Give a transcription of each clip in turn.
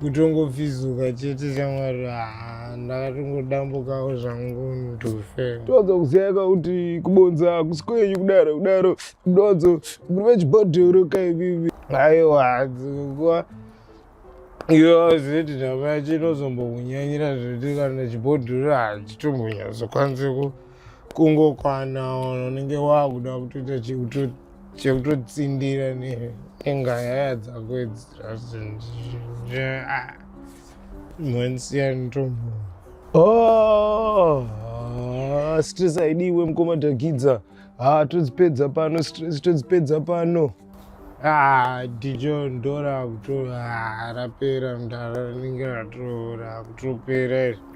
kutongopfizuka chete chamwari ah, ndakatongodambukawo zvangu ndofe toanza kuziyaka kuti kubonza hakusi kwenyu kudaro kudaro donzo muri vechibhodhoro kaivivi aiwa dzikuwa iwe zeti ndava chinozombokunyanyira zvekuti kana chibhodhoro hachitombonyazokwanisi kungokwana unenge wakuda kutoita chikuto chekutotsindira nengaya dzako idzi mwanisiyantombo oh, stress aidiwe mukoma dhakidza ha ah, todzipedza pano stress todzipedza pano ah, dijo ndora kuto ah, rapera mdara rinenge ratora kutopera izvi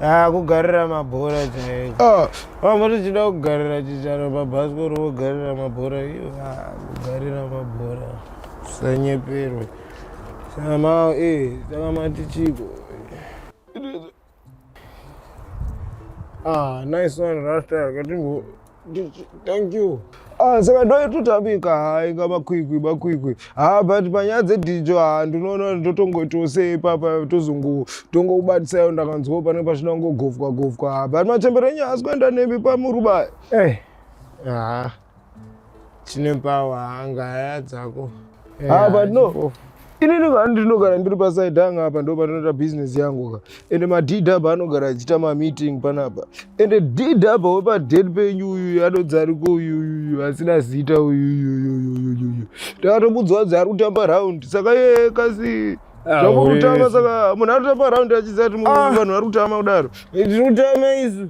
Ah, kugarira mabhora chaiyo ah. vamwe tichida kugarira chicharo pabhasikoro vogarira mabhora iyo ah, kugarira mabhora sanyeperwe samao e eh, takamati chiko ah nice one rasta akatimbo thank you ah, saka ndototamika hai nga makwikwi makwikwi ha ah, but panyaya dzedhijo ha ah, ndinoona ndotongoitawo sei ipapa tozongo tongokubatisaiwo ndakanzwawo pane pachina kungogovwa govwa ha but machembere enyu haasi kuenda nemi pamuruba eh. ha chine pawa hanga haya dzako eh, ha but no Ini ndinogara ndiri paside yangu apa ndo pandinoita business yangu ka ende madhidhi apa anogara achiita mameeting panapa ende dhidhi apa wepadheti penyu uyuyu anodzi ariko uyuyuyu asina zita uyuyuyuyuyuyu takatomudzwa dzi ari kutamba raundi saka yeye kasi ah, zvamukutamba saka munhu anotamba raundi achiziva kuti ah. vanhu vari kutama kudaro tinotama isu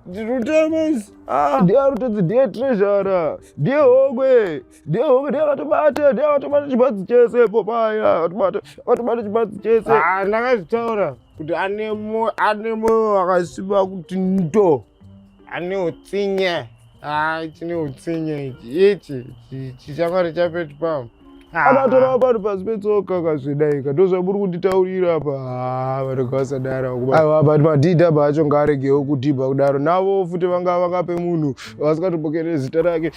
ndinotamis ah. ndiye arutodzi ndiye trezhara ndiye hokwe vatobata vatobata chibatsi chese po paya vatobata vatobata chibatsi chese ah, ndakazvitaura kuti ane moyo wakasimba kuti ndo ane utsinye ah, chine utsinye ichi ichi chichakwari chapetu pam akatora ah. pano pasi petsoka kazvidaika ndozvamuri kunditaurira apa vanenge vasadara aiwa but madhidhi apa acho ngaaregewo kudhibha kudaro navo futi vanga vakape munhu vasingatombokerere zita rake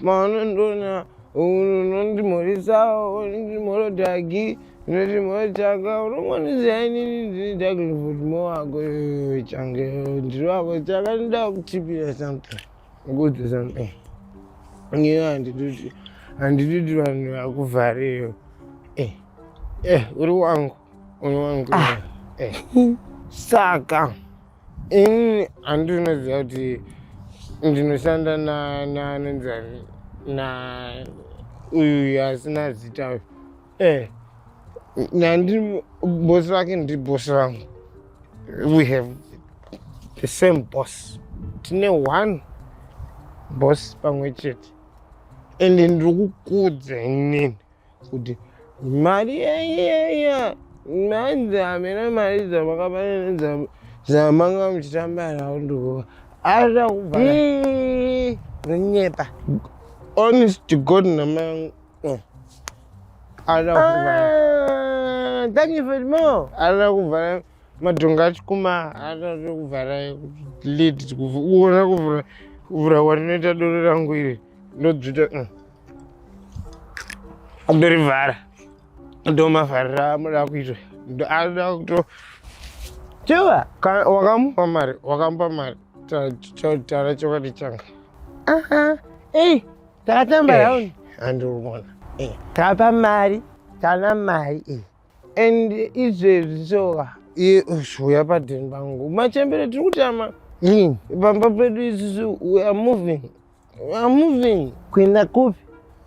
maunondona unondimhorisawo ndimhorodhagi ndimhorotanga unongondizai nini ndini daglivudmo wako change ndiri wako chaka ndoda kutipira something kuudza something ngiyo handitoti handitoti vanhu vakuvhareyo eh, eh, uri wangu uri wangu ah. eh. saka ini handinoziva kuti ndinoshanda nanenzani na uyu asina zita uyu e nandi bosi vake ndi bosi vangu we have the same boss tine one boss pamwe chete ende ndiri kukudza inini kuti mari yaiyeya mhanzi hamena mari dzamakabaenedza dzamanga muchitamba nawo ndikuva aida kubva rinyepa honest to god namai oh. aida kubva ah, thank you for more aida kubva madhonga achikuma aida kuvhara lid kuona kuvhura kuvhura kwatinoita doro rangu iri ndodzvita mm. Andorivhara. Ndomavharira amuda kuitwa. Ndoda kuto Chiva, wakamupa mari, wakamupa mari. Tara chokwadi changa. Aha. Eh, tatamba eh, round. Andorumona. Eh, tapa mari, tana mari. Eh. And izvezvi soka. Iye uya padheni pangu. Machembere tiri kutama. Rini, pamba pedu isusu we are moving. I'm moving. Kuenda kupi?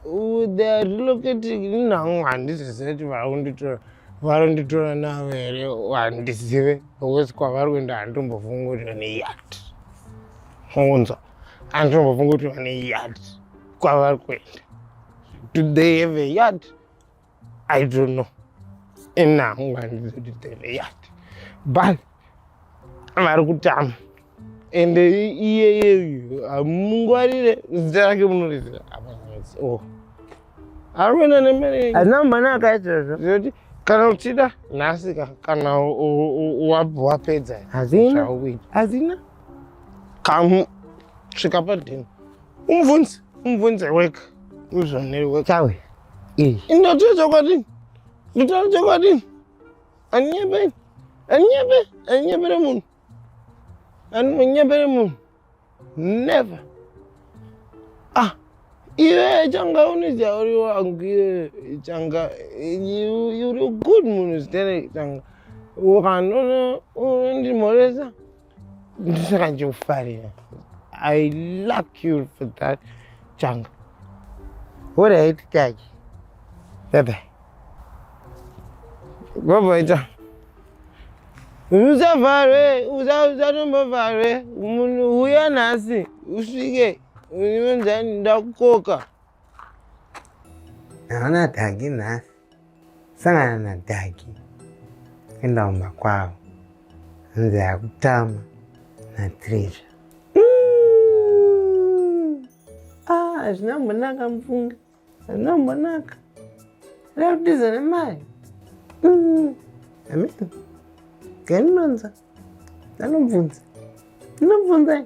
Uh, they are relocating inhangu handizive kuti vakunditora varonditora navo here handizive because kwavari kuenda handitombofunga kuti vane yard unza handitombofunga kuti vane yard kwavari kuenda do they have a yard I don't know. And now I'm going to do the yard. But vari kutama ende iyeyeyu hamungwarire zita rake munorizira oh. ari kuenda nemari hazina mumhana akaitira zvo zoti kana uchida nhasi ka kana wapedza hazina hazina kamu svika padhini umubvunzi umubvunzi weka uzvoneri weka chawe Eh. Ndotaura chokwadi. Ndotaura chokwadi. Anyepe. Anyepe. Anyepere munhu. Anonyepere munhu. Never. Ah. Iwe changa unidya uri wangu iwe changa uri good munhu zitene changa. Ukanono unondimhoresa. ndisaka ndikufarira i luck you for that changa horaiti kake bebe goboita usavharwe usatombovharwe munhu uya nhasi usvike unonzani ndakukoka Naona Dagi nhasi. Sangana na Dagi. Enda umba kwavo. Hanzi yakutama na Trisha. Mm. Ah, hazvina mbonaka mufunge. Hazvina mbonaka. Rari kutiza nemari. Mm. Amina. Ganonza. Anobvunza. Anobvunza.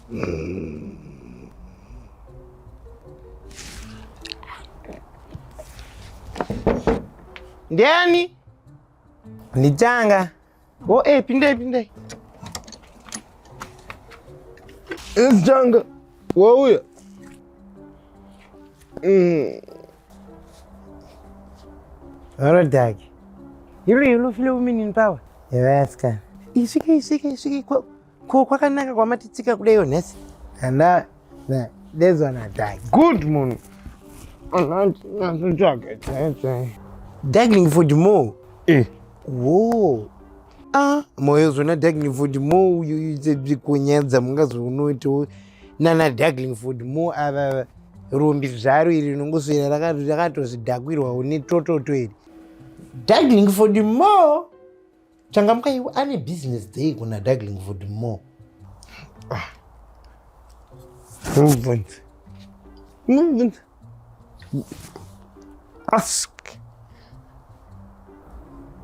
Ndiani? Ndichanga. Oh, eh, pindai pindai. Ndichanga. Wauya. Mm. Varodhaki. Hilo hilo file umini nipawa. Yavaska. Isvike isvike isvike Ko kwakanaka kwamatitsika kudaio nhasi? And that, that, there's one I die. Good munhu. Dagging for the more. Eh. Whoa. Ah, moyo zvona dagging for the more uyu kunyadza mungazonoitawo nana dagging for the more ava rumbi zvaro iri rinongoswera rakatozvidakwirwawo netototo iri. Dagging for the more. Changamka iwe ane business day kuna Darling Vodmore. Ah. Movement. Movement. Ask.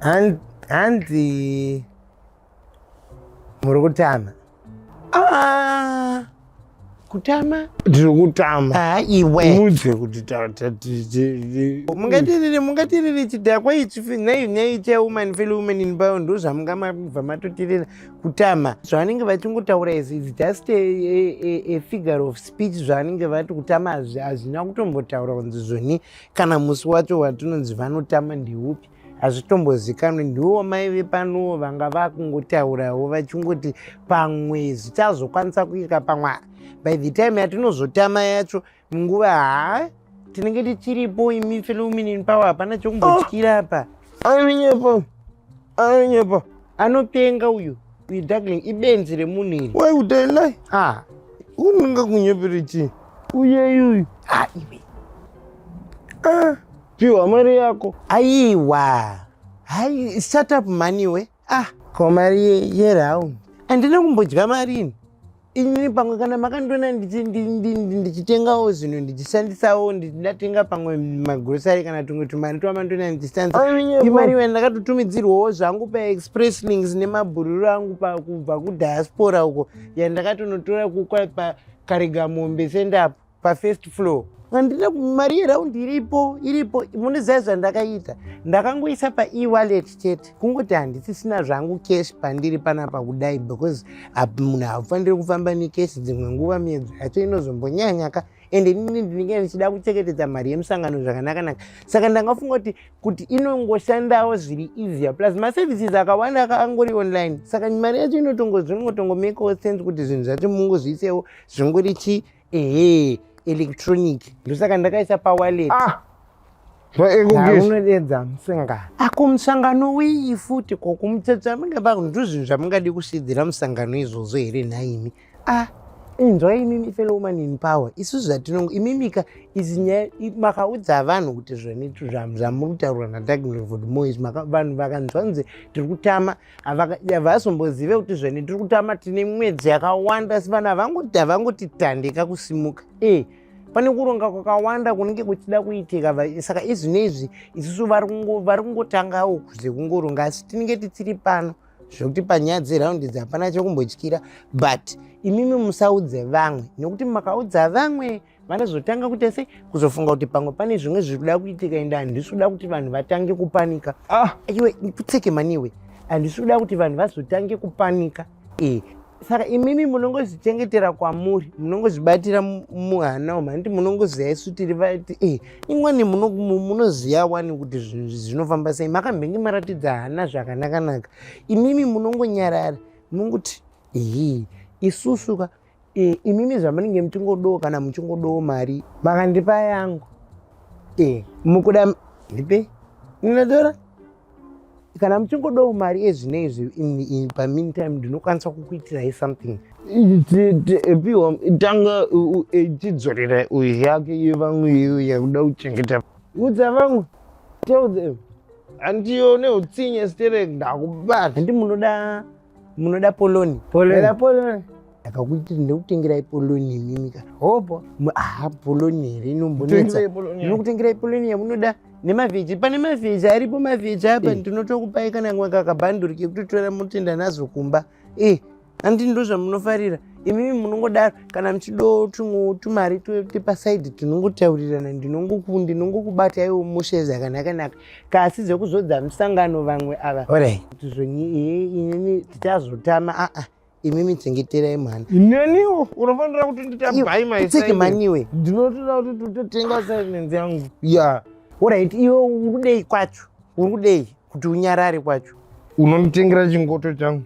And and the Murugutana. Ah, kutama ndiri kutama ah, iwe mudze kuti mungatiriri mungatiriri chidhakwa ichi nei nei chawoman fellow woman in bow ndo zvamunga mabva matotirira kutama zvavanenge vachingotaura is is just a, a, a, a figure of speech zvavanenge vati kutama hazvina kutombotaura kunzi zvoni kana musi wacho watinonzi vanotama ndeupi hazvitombozikanwi ndiwo mai vepanowo vanga vakungotaurawo vachingoti pamwe zvichazokwanisa kuika pamwe by the time yatinozotama yacho munguva haa tinenge tichiripo imi felouminin power hapana chokumbotyira apa anonyepa anonyepa anopenga uyu uyu darkling ibenzi remunhu iri why would i lie ah unonga kunyepere chii uyeyuyu ah iwe ah Piwa mari yako. Aiwa. Hai shut up mhani we. Ah, ko mari ye, ye round. Andina kumbodya mari ini. Ini pamwe kana makandiona ndichitengawo zvinhu ndichishandisawo ndichidatenga pamwe magrocery kana tumwe tumari twamandiona ndichishandisa imari iwe ndakatotumidzirwawo zvangu paexpress links nemabhururu angu pakubva kudiaspora uko yandakatonotora kukwa pakaregamombe sendapo pafirst floor handina mari yeraundi iripo iripo munozivai zvandakaita ndakangoisa paewalet chete kungoti handisisina zvangu cash pandiri panapa kudai because munhu haufaniri kufamba necash dzimwe nguva miedzo yacho inozombonyanyaka ende inini ndinenge ndichida kuchengetedza mari yemusangano zvakanakanaka saka ndangafunga kuti kuti inongoshandawo zviri easier plus maservices akawanda akaangori online saka mari yacho inotongozvinongotongomekawo sense kuti zvinhu zvacho mungozviisewo zvingori chii ehe electronic ndosaka ndakaisa pawallet ah. unodedza musangano ako musangano wii futi ko kumutsatsa minge vanhu ndozvinhu zvamungadi kusidzira musangano izvozvo here nhaimi a ah, inzwa imimi fellow woman in power isu zvatinongo imimika izi nyaya makaudza vanhu kuti zvamuri kutaurwa nadagnovod mois vanhu vakanzwa nzi tiri kutama havazombozive kuti zvene tiri kutama tine mwedzi yakawanda asi vana havangotitandika kusimuka e pane kuronga kwakawanda kunenge kuchida kuitika saka izvi neizvi isusu vari kungotangawo kuze kungoronga asi tinenge tisiri pano zvekuti panyaya dzeraundi idzi hapana chekumbotyira but imimi musaudze vamwe nekuti makaudza vamwe vanozotanga kuita sei kuzofunga kuti pamwe pane zvimwe zviri kuda kuitika ende handisi kuda kuti vanhu vatange kupanika ah. iwe kutseke mani iwe handisi kuda kuti vanhu vazotange kupanika e saka imimi munongozvichengetera kwamuri munongozvibatira muhana umu handiti munongoziva isu tiri vati e imwani munoziva wani kuti zvinhu zvinofamba sei makambenge maratidza hana zvakanakanaka imimi munongonyarara munongoti hii isusuka e, imimi zvamunenge muchingodowo kana muchingodowo mari makandipa yangu e, mukuda ndipe ndinotora kana muchingodawo mari ezvine izvi pameantime ndinokwanisa kukuitirai something piwa tanga chidzorera uyu yake iyo vamwe iyo yakuda kuchengeta udza vamwe tell them handiyo neutsinye sterek ndakubata handi munoda munoda poloni poloni poloni akakuti ndinokutengerai poloni imimi ka hopo aha poloni here inombonetsa ndinokutengerai poloni yamunoda nemavheji pane mavheji aripo mavheji apa eh. ndinotokupai kana kamwe kakabhanduri kekutotora motenda nazo kumba e eh, andi ndo zvamunofarira imimi munongodaro kana muchido tumwe tumari tepasaidi tinongotaurirana ndinongokubataiwo mushe zvakanaka naka kasi zvekuzodza musangano vamwe ava kuti zvenyi inini tichazotama aa ah, ah, imi michengeterai mwana neniwo unofanira kuti nditabaimaiseke maniwe ndinotoda kuti tototenga silence yangu ya orit iwe uri kudei kwacho uri kudei kuti unyarare kwacho unonditengera chingoto changu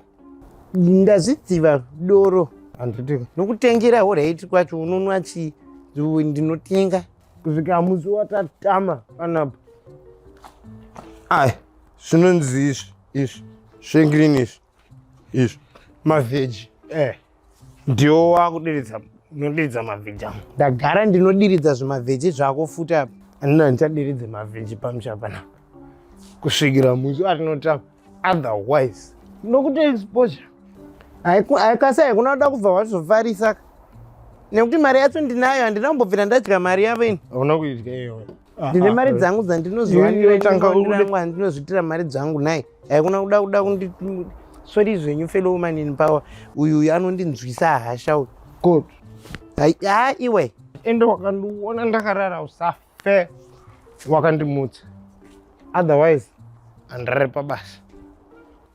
ndazvidziva doro handiti nokutengera orit kwacho unonwa chii ndinotenga kusvika musi watatama panapa ai zvinonzi izvi izvi zvengreen izvi izvi mavheji eh ndiwo wakudiridza unodiridza mavheji angu ndagara ndinodiridza zvimavheji zvako futi apa andina ndichadiridze mavheji pamusha panapa kusvikira musi atinotama otherwise nokuti exposure haikasi haikuna kuda kubva wazovharisa nekuti mari yacho ndinayo handina kumbobvira ndadya mari yavo ini hauna kuidya iyoyo ah, ndine ah, mari ah. dzangu dzandinozoaandirangwa ndinozvitira mari dzangu nai haikuna kuda kuda kundi sori zvenyu fellow woman in power uyu uyu anondinzwisa hasha uyu god ha iwe ende wakandiona ndakarara usafa fair wakandimutsa otherwise andirere pabasa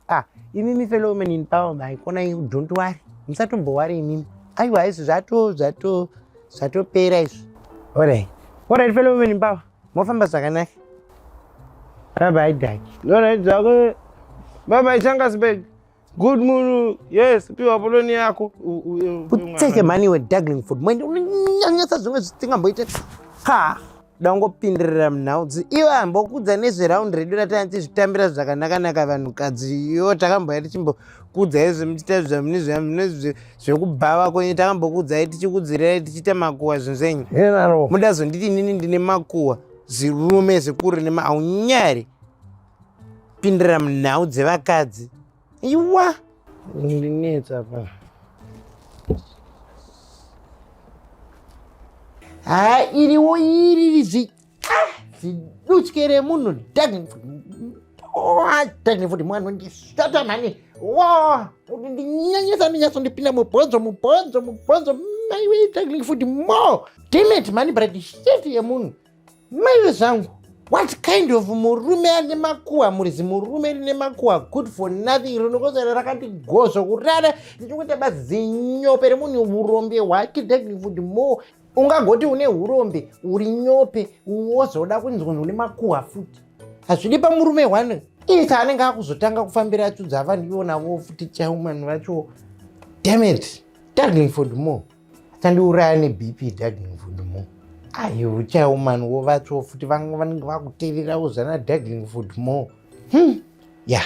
ah imimi fellow women in power maikona you don't worry musatombowari imimi aiwa izvi zvato zvato zvatopera izvi orai orai fellow women in power mofamba zvakanaka baba idaki orai zvako baba ichangasbeg Good moon. Yes, piwa poloni yako. Utseke mani we daggling food. Mwende unonyanyisa zvimwe zvisingamboite. Ha. Dangopindirira munhaudzi. Iwe ambokudza nezve round redu ratanzi zvitambira zvakanaka naka vanhu kadzi. Yo takamboya tichimbo kudza izvi muchita zvamune zvamune zvekubhava kwenyu takambokudzai tichikudzirai tichiita makuwa zvinhu zvenyu. Muda zonditi nini ndine makuwa. Zirume zikuru nema aunyari. Pindira munhau dzevakadzi. Iwa. Ndinetsa pa. Ha iri wo iri zi. Ah, ziduskere munhu dag. Oh, dag futi mwana ndi satan mani. Wo, ndinyanyisa ndinyasa ndipinda mubhonzo mubhonzo mubhonzo. Maiwe dag futi mo. Damn it mani brad shit yemunhu. maive zvangu what kind of murume ane makuwa muri zimurume rine makuwa good for nothing rinokozera rakati gozvo kurara ndichikuita bazinyope remunhu urombe hwake dagnifood more ungagoti une urombe uri nyope wozoda kunzwa une makuwa futi hazvidi pamurume one iti anenge akuzotanga kufambira achudza vanhu ivonavo futi chaiwo vanhu vacho damet dagnifood more achandiuraya nebp dagling food mo ayi uchawo mani wovatswo futi vanga vanenge vakutererawo zvana dagling food mo hmm. ya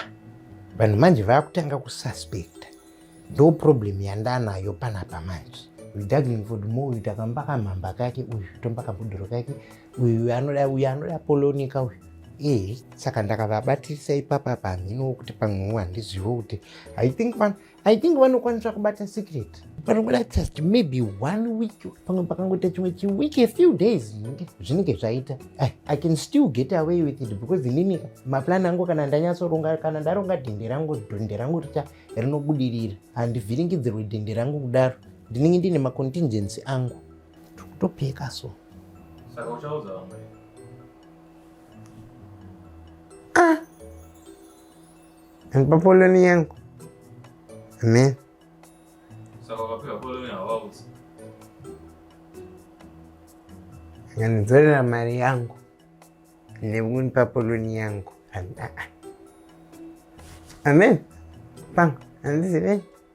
vanhu manje vakutanga kususpecta ndo problem yandanayo panapa manje dagling food mo uyu takamba kamhamba kake uyu tomba kabhudhoro kake uyu anoda uyu anoda polonika uyu ee saka ndakavabatirisa ipapa pamhino wokuti pamwewo handizivo kuti i think man I think vanokwanisa kubata secret panobuda just maybe one week pamwe pakangoita chimwe chiweek a few days zvinenge zvinenge zvaita I, i can still get away with it because inini maplan angu kana ndanyatsoronga kana ndaronga dhende rangu dhende rangu richa rinobudirira handivhiringidzirwe dhende rangu kudaro ndinenge ndiine macontingency angu tokutopeka so saka uchaudza vamwe ah. Andipa poloni yangu. Amen. Saka wakapiwa poloni hawaudzi. Nganidzorera mari yangu nekundipa poloni yangu. Amen. Panga, andizive.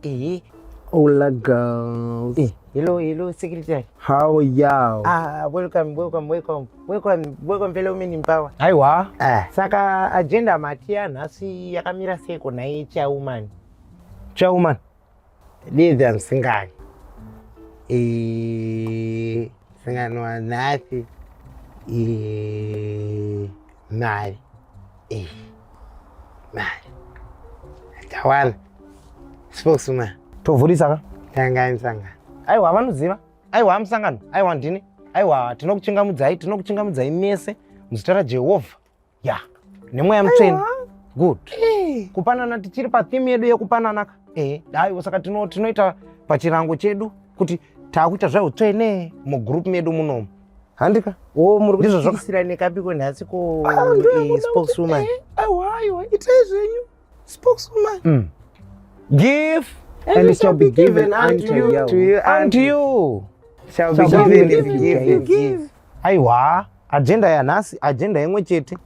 Ehe. Hola girls. Eh, hello, hello, secretary. How are you? Ah, welcome, welcome, welcome. Welcome, welcome fellow women in power. Aiwa. Ah. Saka agenda mati yanhasi yakamira seko naye chairwoman. Chairwoman. Lidhi amusingani. Eh, singano wanhasi. Eh, mari. Eh. Tawala. Spokesman. Tovhurisa ka? Tanga insanga. Aiwa vanoziva. Aiwa musangano. Aiwa ndini. Aiwa tinokuchingamudzai, tinokuchingamudzai mese muzita raJehovha. Ya. Nemweya mutsvene. Good. Eh. Kupanana tichiri pa theme yedu yekupanana ka. Eh, dai saka tino tinoita pachirango chedu kuti takuita zveutsvene mugroup medu munomu. handika oh, muri kutiisira nekapiko nhasi ko ah, eh, spokeswoman eh, aiwaiwa itai zvenyu spokeswoman mm. give and it shall be given unto you to you and you shall be given if you give aiwa agenda yanhasi agenda imwe chete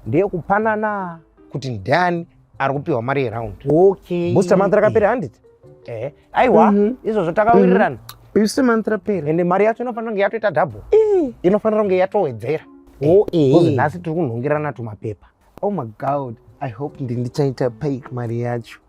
ndeyekupanana kuti ndiani ari kupiwa mari yeround okay booster month rakapera handiti eh aiwa mm -hmm. izvozvo takawirirana mm -hmm. booster month rapera ende mari yacho inofanira kunge yatoita double eh. inofanira kunge yatowedzera oh eh nhasi tiri kunhongirana tumapepa oh my god i hope ndindichaita pay mari yacho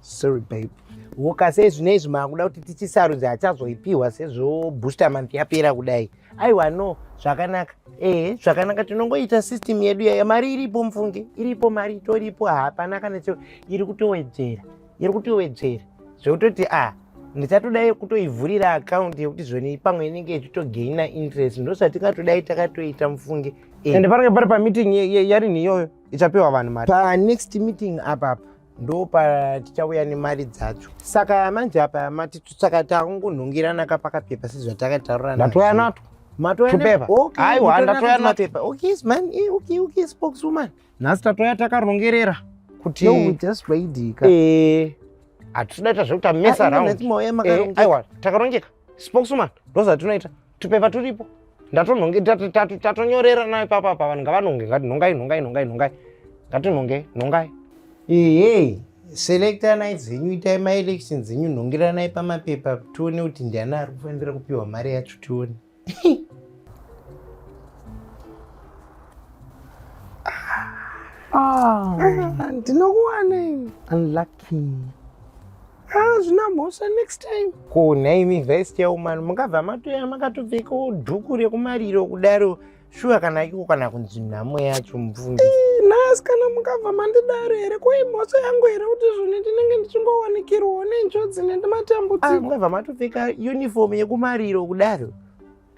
sorry babe woka sezvino izvi maakuda kuti tichisarudze achazoipiwa sezvo booster month yapera kudai aiwa no zvakanaka ehe zvakanaka tinongoita system yedu yaya mari iripo mufunge iripo mari itoripo hapana kana cheo iri kutowedzera iri kutowedzera zvekutoti a ah, ndichatodai kutoivhurira akaunti yekuti zvoni pamwe inenge ichitogaina interest ndozvatingatodai takatoita mufunge eh. ende panenge pari pameeting yarini iyoyo ichapiwa vanhu mari panext meeting apapa ndo patichauya nemari dzacho saka manje apa mati saka takungonhungirana ka pakapepa sezvatakataurana ndatoya nato nhasi tatoya takarongerera kuti eh, hatitodaita zvekuti amesa eh, aiwa takarongeka spokeswoman ndozvatinoita tupepa turipo ndatonhonge tatonyorera nayo papa pa vanhu ngavanhonge ngati nhongai nhongai nhongai nhongai ngatinhonge nhongai ehe selectanai dzenyu itai maelection dzenyu nhongeranai pamapepa tione kuti ndiani ari kufanira kupiwa mari yacho tione ah. ah, ndinokuwana unlucky Ah, zvina mhosva next time. Ko nhaimi vice chairwoman mungabva matoya makatopfekawo dhuku rekumariro kudaro shuwa kana iko kana kunzi nhamo yacho mubvunzi. Eh, nhasi kana mungabva mandidaro here ko imhosva yangu here kuti zvino ndinenge ndichingowanikirwawo nenjodzi nendimatamudziko. Ah, mungabva matopfeka uniform yekumariro kudaro.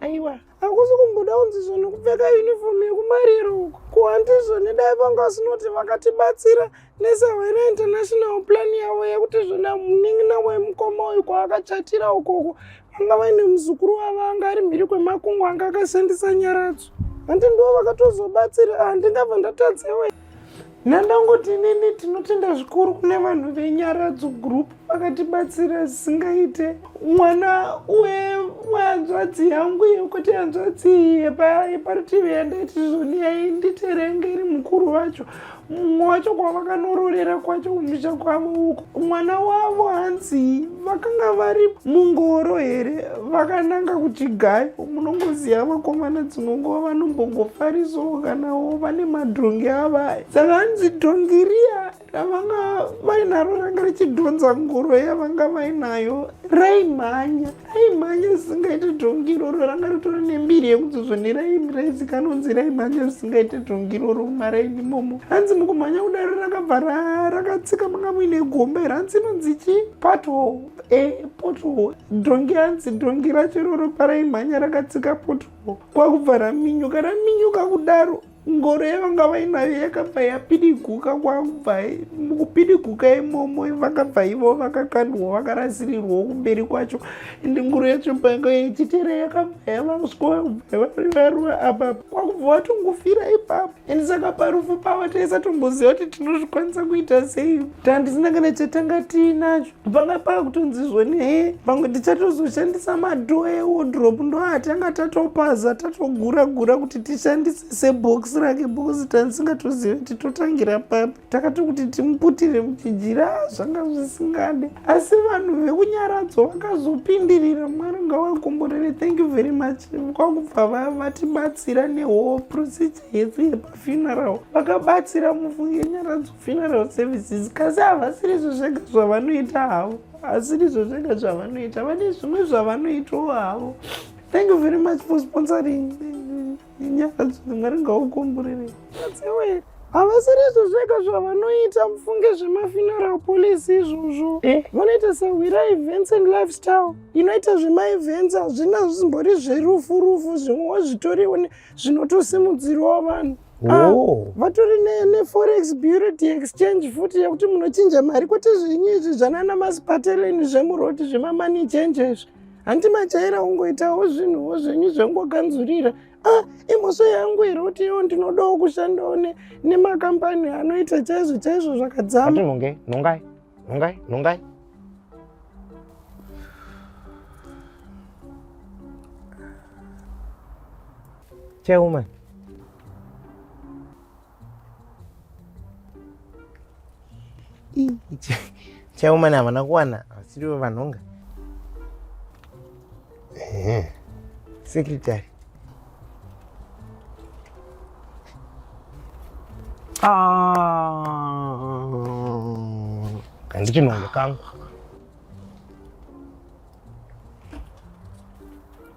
aiwa hakusi kumboda kunzizvo nekupfeka yunifomu yekumariro uko kuhandizvo nedai vanga vasinoti vakatibatsira nesahwena international plan yavo yekuti zvona munin'ina wemukoma uyu kwaakachatira ukoko vanga vaine muzukuru wavo anga ari mhiri kwemakungwa anga akashandisa nyaradzo handi ndivo vakatozobatsira handingabva ah, ndatadzewe Nandangoti nini tinotenda zvikuru kune vanhu venyaradzo group vakatibatsira zvisingaite mwana wehanzvadzi yangu yekuti hanzvadzi yeparutivi yandaiti zvoniyai nditerenge iri mukuru vacho mumwe wacho kwavakanororera kwacho kumusha kwavo uko mwana wavo hanzi vakanga vari mungoro here vakananga kuchigayo munongoziva vakomana dzimwe nguva vanombongofarisawo kanawo vane madhongi avaya saka hanzi dhongi riya ravanga vainaro ranga richidhonza ngoro yavanga vainayo raimhanya raimhanya zvisingaite dhongi iroro ranga ritori nembiri yekuzozvoneraimi raizikanonzi raimhanya zvisingaite dhongi iroro mumaraini imomo hanzi mukumhanya kudaro rakabva rakatsika manga muine gomba here hanzi inonzi chi pothol e eh, pothol dhongi hanzi dhongi racho iroro paraimhanya rakatsika pothol kwakubva raminyuka raminyuka kudaro ngoro yavanga vainayo yakabva yapidiguka kwakubva mukupidiguka imomo vakabva ivo vakakandwa vakarasirirwawo kumberi kwacho ende ngoro yacho payanga yechitera yakabva yavaswa varuva apapa kwakubva vatongofira ipapo and saka parufu pavo taisatomboziva kuti tinozvikwanisa kuita sei tandisina kana chatanga tiinacho panga pava kutonzi zvoni he pamwe tichatozoshandisa madhoo ewodrop ndoatanga tatopaza tatogura gura kuti tishandise sebox rake bokuzi tandisingatozivi kuti totangira papi takati kuti timuputire muchijira zvanga zvisingade asi vanhu vekunyaradzo vakazopindirira mwari ngawakomborere thank you very much kwakubva vatibatsira newhole procedure yese yepafuneral vakabatsira mufunge nyaradzo funeral services kasi havasiri izvo zvega zvavanoita havo asiri izvo zvega zvavanoita vane zvimwe zvavanoitawo havo thank you very much for sponsoring inyaya dzino mwari ngaukomborere adziwe havasiri izvo zvega zvavanoita mufunge zvemafuneral policy izvozvo eh. vanoita sahwira events and lifestyle inoita zvemaevents hazvina zvisimbori zverufu rufu zvimwewo zvitoriwo zvinotosimudzirwawo vanhu Ah, oh. vatori neforex bureau de exchange futi yekuti munochinja mari kwete zvenyu izvi zvanana masipateleni zvemuroti zvemamoney change izvi handi majaira ungoitawo zvinhuwo zvenyu zvengoganzurira ah imhosva yangu here kuti iwo ndinodawo kushandawo nemakambani anoita chaizvo chaizvo zvakadzama nongai nongai nongai nongai chairwoman chaumana havana kuwana vasirivo vanhonga sekretary handiti ah. nhonga kangu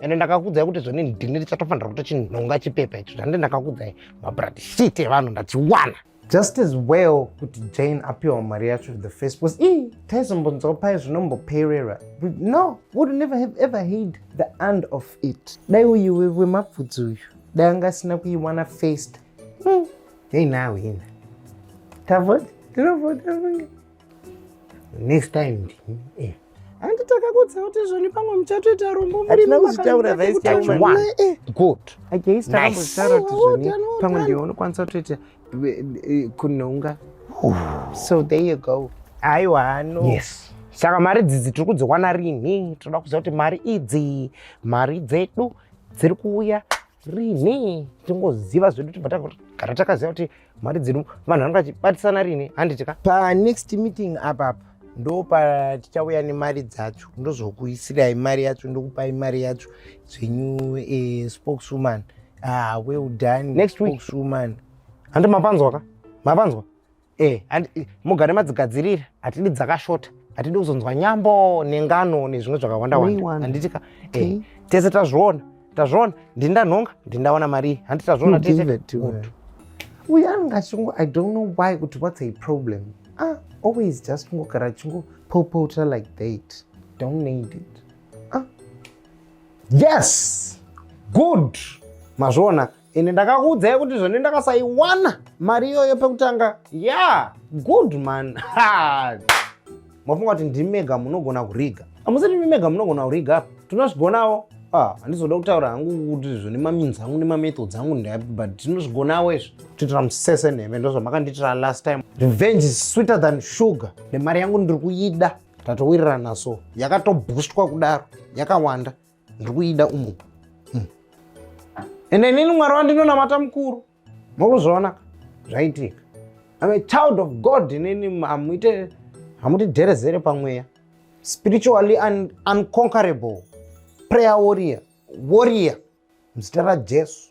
ende ndakakudzai kuti zvoni ndini ndichatofanira kuto chinhonga chipepa icho zvandi ndakakudzai mabrad shit evanhu ndachiwana just as well kuti jane apiwa mari yacho the first was i taizombonzwa paye zvinomboperera no would never have ever heard the end of it dai uyu wemapfudzi uyu dai anga asina kuiwana first hmm. hei nawe ina tavoti tinovota next time ndini eh. handi takakudza kuti zvoni pamwe muchatoita rombo hatina kuzvitaura vice chairman eh. good against takambozvitaura kuti zvoni oh, pamwe ndiwe unokwanisa kutoita eh, eh, kunonga oh. so there you go aiwa hano yes saka mari dzidzi tiri kudziwana rinhi tinoda kuziva kuti mari idzi mari dzedu dziri kuuya rinhi tingoziva zvedu tibva tagara takaziva kuti mari dzedu vanhu vanga vachibatisana rini handiti ka panext meeting apapa ndo patichauya nemari dzacho ndozokuisirai mari yacho ndokupai mari yacho zvenyu eh, spokeswoman ah, well done next week spokeswoman handi mapanzwa ka mapanzwa eh, eh mugare madzigadzirira hatidi dzakashota hatidi kuzonzwa nyambo nengano nezvimwe zvakawandawanda handiti ka eh, tese tazviona tazviona ndini ndanhonga ndini ndawana marii handi tazviona tese uyu anenge achingo i don't know why kuti what's a problem ah always just kungogara achingopopota like that don't need it ah yes good mazviona ini ndakakuudzai kuti zvone ndakasaiwana mari iyoyo pekutanga ya good man mafunga kuti ndimi mega munogona kuriga amusi ndimi mega munogona kuriga apa tinozvigonawo ah, handizoda kutaura hangu kuti zvone maminzi angu nemamethods angu ndai but tinozvigonawo izvi titira musese nheme ndozvamakanditira last time revenge is sweeter than sugar nemari yangu ndiri kuida tatowirirana so yakatoboostwa kudaro yakawanda ndiri kuida umu hmm. ende inini mwari wandinonamata mukuru mokuzviona zvaitika I'm a child of God inini hamuite hamutidherezere pamweya spiritually un unconquerable prayer warrior warrior muzita rajesu